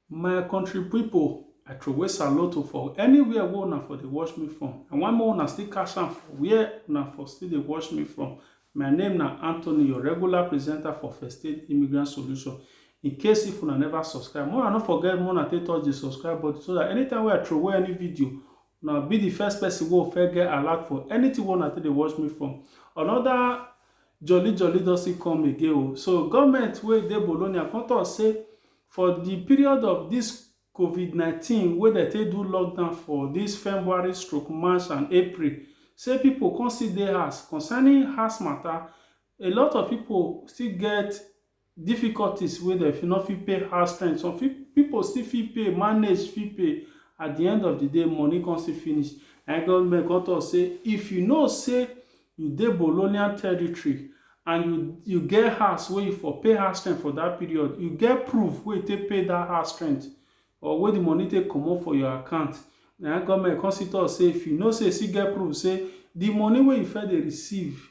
My country pipu, I throway salute oh for anywhere wey una for dey watch me from. I wan make una still catch am for where una for still dey watch me from. My name na Anthony, your regular presenter for First Aid Immigrant Solution. In case if una never subscribe, make una no forget make una take touch the subscribe button so dat anytime wey I throway any video, Una be the first person wey first get alert for anything wey una take dey watch me from. Another jolly jolly don still come again o. Oh. So government wey dey Bologna come talk say for the period of this COVID-19 wey dem take do lockdown for this February stroke March and April, say people come still dey house concerning house matter, a lot of people still get Difficulties wey dem fit no fit pay house rent, some fit pipu still fit pay, manage fit pay, at di end of di day money come still finish, na im government come talk say if you know say you dey bolonian territory and you you get house wey you for pay house rent for dat period, you get proof wey you take pay dat house rent or wey di money take comot for your account, na im government come still talk say if you know say you still get proof say di money wey you first dey receive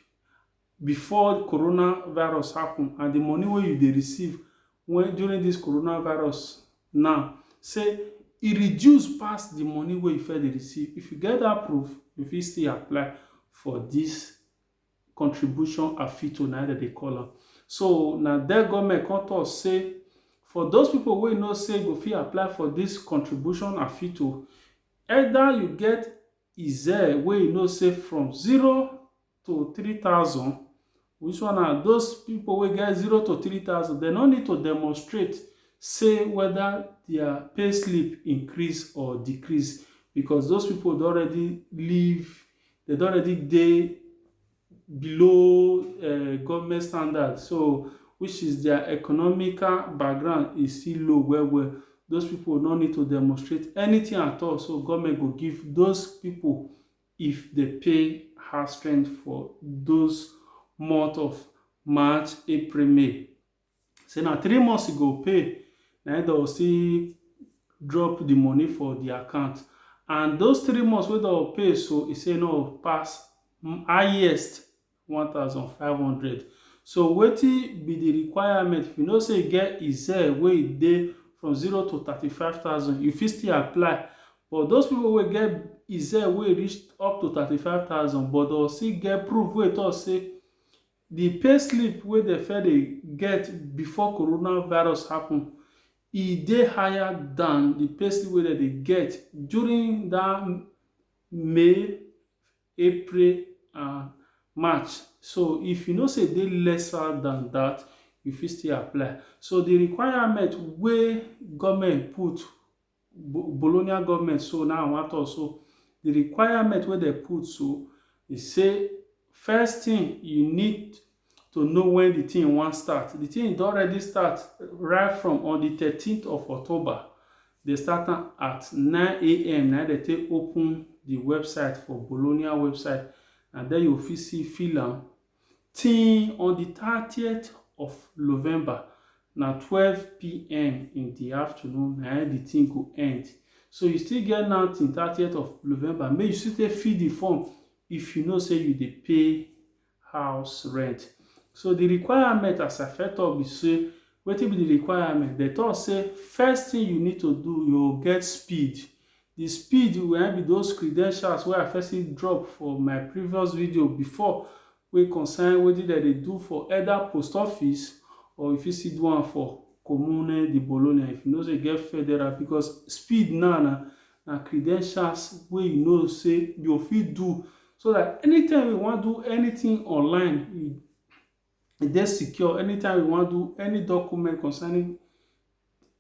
before corona virus happen and di money wey you dey receive wen during dis corona virus now say e reduce pass di money wey you first dey receive. If you get dat proof, you fit still apply for dis contribution AFITO na im dem dey call am. So na den government come talk say for those pipu wey know say go fit apply for dis contribution AFITO, either you get IZER wey you know say from zero to three thousand which one na those people wey get zero to three thousand dem no need to demonstrate say whether their pay slip increase or decrease because those people don already leave they don already dey below uh, government standard so which is their economical background is still low well well those people no need to demonstrate anything at all so government go give those people if dey pay house rent for those month of March, April, May. Say na three months you go pay, na im dem go still drop the money for the account. And those three months wey dem go pay so, e say no pass highest one thousand five hundred So wetin be di requirement? If you know say you get Excel wey e dey from zero to thirty five thousand, you fit still apply but those people wey get Excel wey reach up to thirty five thousand but dem still get proof wey talk say di pay slip wey dem first dey get before corona virus happen e dey higher than di pay slip wey dem dey get during dat May April and March. So if you know say e dey lesser than that, you fit still apply. So the requirement wey government put, Bo- Bologna government so now I wan talk so, the requirement wey dem put so, e say first thing you need to know when the thing wan start. The thing don already start right from on the thirteenth of October. They start am at nine a.m. na they take open the website for Bologna website and then you fit see fill am till on the thirtieth of November na twelve p.m. in the afternoon na the thing go end. So you still get now till thirtieth of November make you still take fill the form if you know say you dey pay house rent. So the requirement as I first talk be say wetin be the requirement? They talk say first thing you need to do, you get speed. The speed wey be those credentials wey I first drop for my previous video before wey concern wetin dem dey do for either post office or you fit still do am for Comune di Bologna if you know say you get federal because speed now na na credentials wey you know say you fit do so that anytime we wan do anything online e e dey secure anytime we wan do any document concerning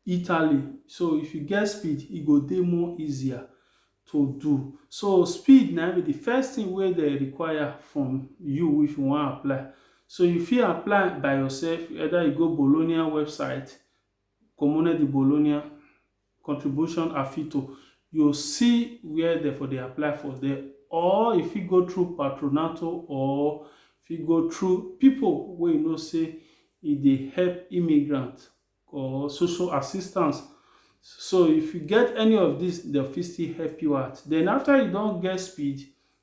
Italy so if you get speed e go dey more easier to do so speed na be the first thing wey dey require from you if you wan apply so you fit apply by yourself either you go Bologna website Comune di Bologna contribution afito yo see where dem for dey apply for there or e fit go through patronato or fit go through pipo wey you know say e dey help immigrant or social assistance so if you get any of dis dem fit still help you out den afta you don get speed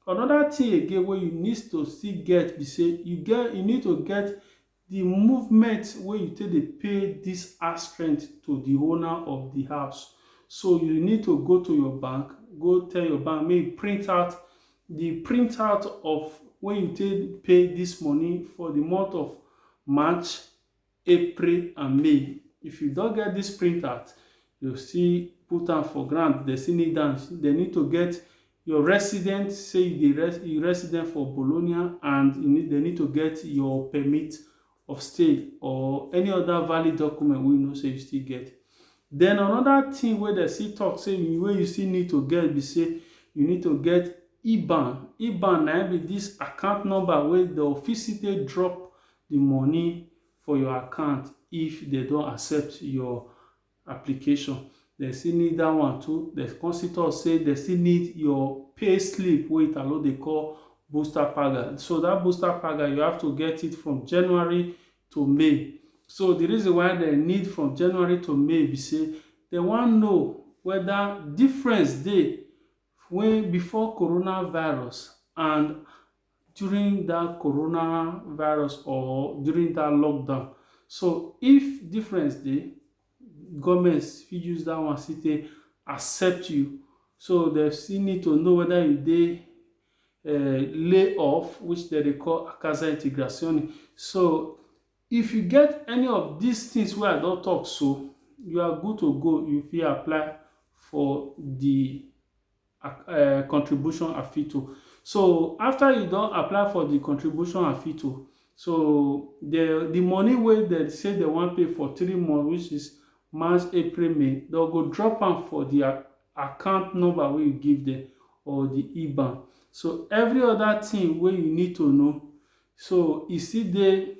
anoda tin again wey you need to still get be say you get you need to get Di movement wey you take dey pay dis house rent to di owner of di house so you need to go to your bank go tell your bank make e print out di print out of wey you take pay dis money for di month of March, April and May if you don get dis print out you go still put am for ground, dem still need am, dem need to get your resident say you dey res you resident for Bologna and you need they need to get your permit of stay or any other valid document wey you know say you still get. Then another thing wey they still talk say you wey you still need to get be say you need to get IBAN. IBAN na be this account number wey the office take drop the money for your account if they don't accept your application dem still need that one too dem come still talk say dem still need your pay slip wey italo dey call booster paga so that booster paga you have to get it from january to may so the reason why dem need from january to may be say dem wan know whether difference dey when before coronavirus and during that corona virus or during that lockdown so if difference dey government fit use that one still take accept you so dem still need to know whether you dey uh, lay off which dem dey call casa integrazione so if you get any of these things wey i don talk so you are good to go you fit apply for the uh, contribution afito so after you don apply for the contribution afito so the the money wey dem say dem wan pay for three months which is march april may dem go drop am for the account number wey you give them or the iban so every other thing wey you need to know so e still dey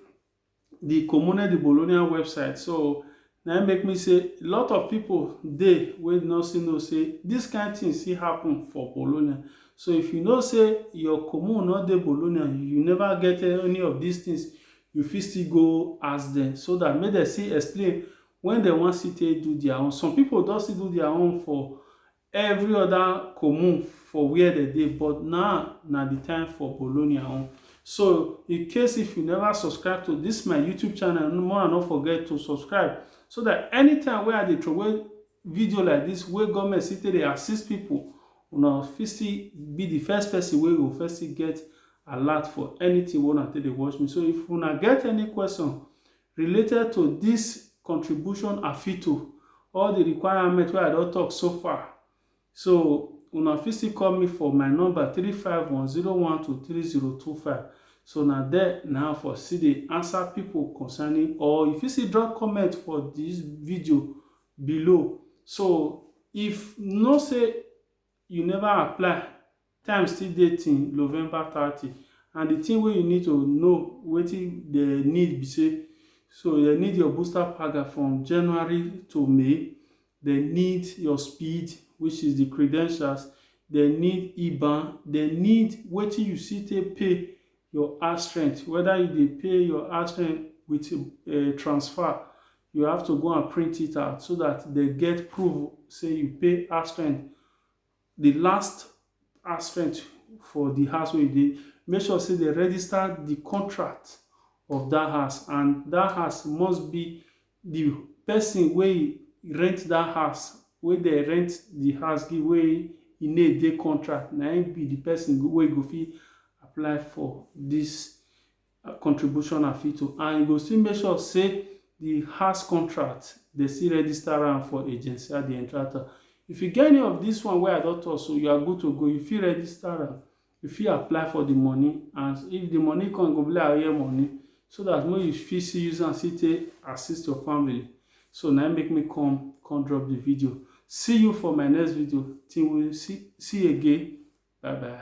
the Comune de Bologna website. So na im make me say a lot of people dey wey no still know say this kind thing still happen for Bologna. So if you know say your commune no dey Bologna, you never get any of these things, you fit still go ask them so that make dem still explain when dem wan still take do their own. Some people don still do their own for Every oda comun for where dem dey but now na di time for Bologna own so in case if you never subscribe to dis my YouTube channel more na no forget to subscribe so dat anytime wey I dey throway video like dis wey government still take dey assist people una fit still be di first person wey go first still get alert for anything wey una take dey watch me so if una get any question Related to dis contribution afito all di requirement wey I don tok so far, so una fit still call me for my number three five one zero one two three zero two five so na there na I for still dey answer pipo concerning or you fit still drop comment for dis video below so if you know say you never apply, time still dey till November thirty and the thing wey you need to know wetin they need be say so they need your booster paga from January to May, they need your speed which is the credentials, they need IBAN, they need wetin you see take pay your house rent whether you dey pay your house rent with um transfer you have to go and print it out so that they get proof say you pay house rent the last house rent for the house wey you dey make sure say they register the contract of that house and that house must be the person wey rent that house wey dey rent the house give wey e name dey contract na im be the person wey go fit apply for this contribution and fee to and e go still make sure say the house contract dey still register am for agency at the entrata if you get any of this one wey i don talk so you are good to go you fit register am you fit apply for the money and if the money come go be like oye money so that when you fit see use am see take assist your family so now make me come come drop the video see you for my next video till we see see again bye bye